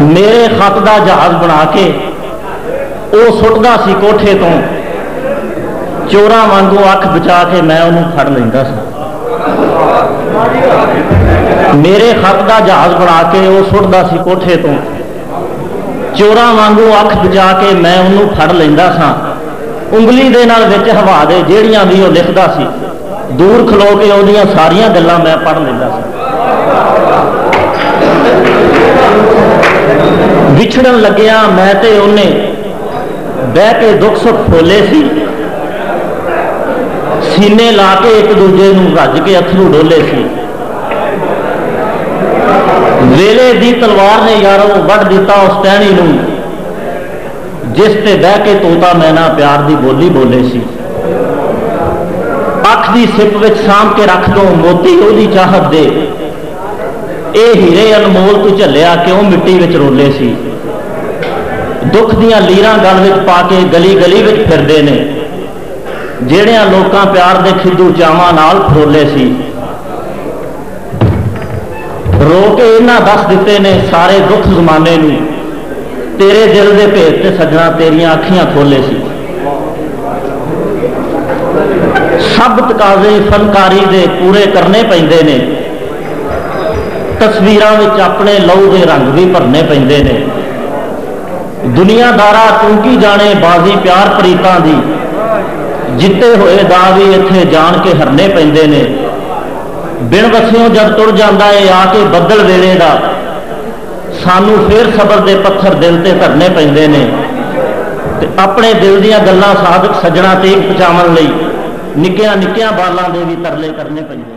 میرے خط دا جہاز بنا کے او سٹدا سی کوٹھے توں چوراں وانگوں اکھ بچا کے میں اونوں پھڑ لیندا سا۔ میرے خط دا جہاز بنا کے او سٹدا سی کوٹھے توں چوراں وانگوں اکھ بچا کے میں اونوں پھڑ لیندا سا۔ انگلی دے نال وچ ہوا دے جیڑھیاں وی او لکھدا سی۔ دور کھلو کے اوندیاں ساریاں گلاں میں پڑھ لیندا ساں۔ وچھڑن لگیاں میں تے اونے بہہ کے دکھ سکھ پھولے سی۔ سینے لا کے ہک ڈوجھے نوں رج کے اتھرو ڈولے سی۔ ویلے دی تلوار نے یارو وڈھ ڈتا اس ٹہنی نوں۔ جس تے بہہ کے طوطا میں ناں پیار دی ٻولی ٻولے سی اکھ دی سپ وچ سانبھ کے رکھ دوں موتی اودی چاہت دے اے ہیرے انمول توں جھلیا کیوں مٹی وچ رولے سی دکھ دیاں لیراں گل وچ پا کے گلی گلی وچ پھردے نے جیڑھیاں لوکاں پیار دے کھدو چاواں نال پھرولے سی۔ رو تے اینا دس ڈتے نے سارے دکھ زمانے نو تیرے دل دے بھیت تے سجنا تیریاں اکھیاں کھولے سی سب تقاضے فنکاری دے پورے کرنے پیندے نے تصویراں وچ اپنے لہو دے رنگ وی بھرنے پیندے نے دنیا دارا توں کی جانے بازی پیار پریتاں دی جتے ہوئے دا وی ایتھے جان کے ہرنے پیندے نے بن وسیوں جد تر جاندا اے آ کے بدل ویلے دا سانوں فیر صبر دے پتھر دل تے دھرنے پیندے نے تے اپنے دل دیاں گلاں صادق سجنڑاں تیک پچاون لئی نکیاں نکیاں بالاں دے وی ترلے کرنے پیندے نے۔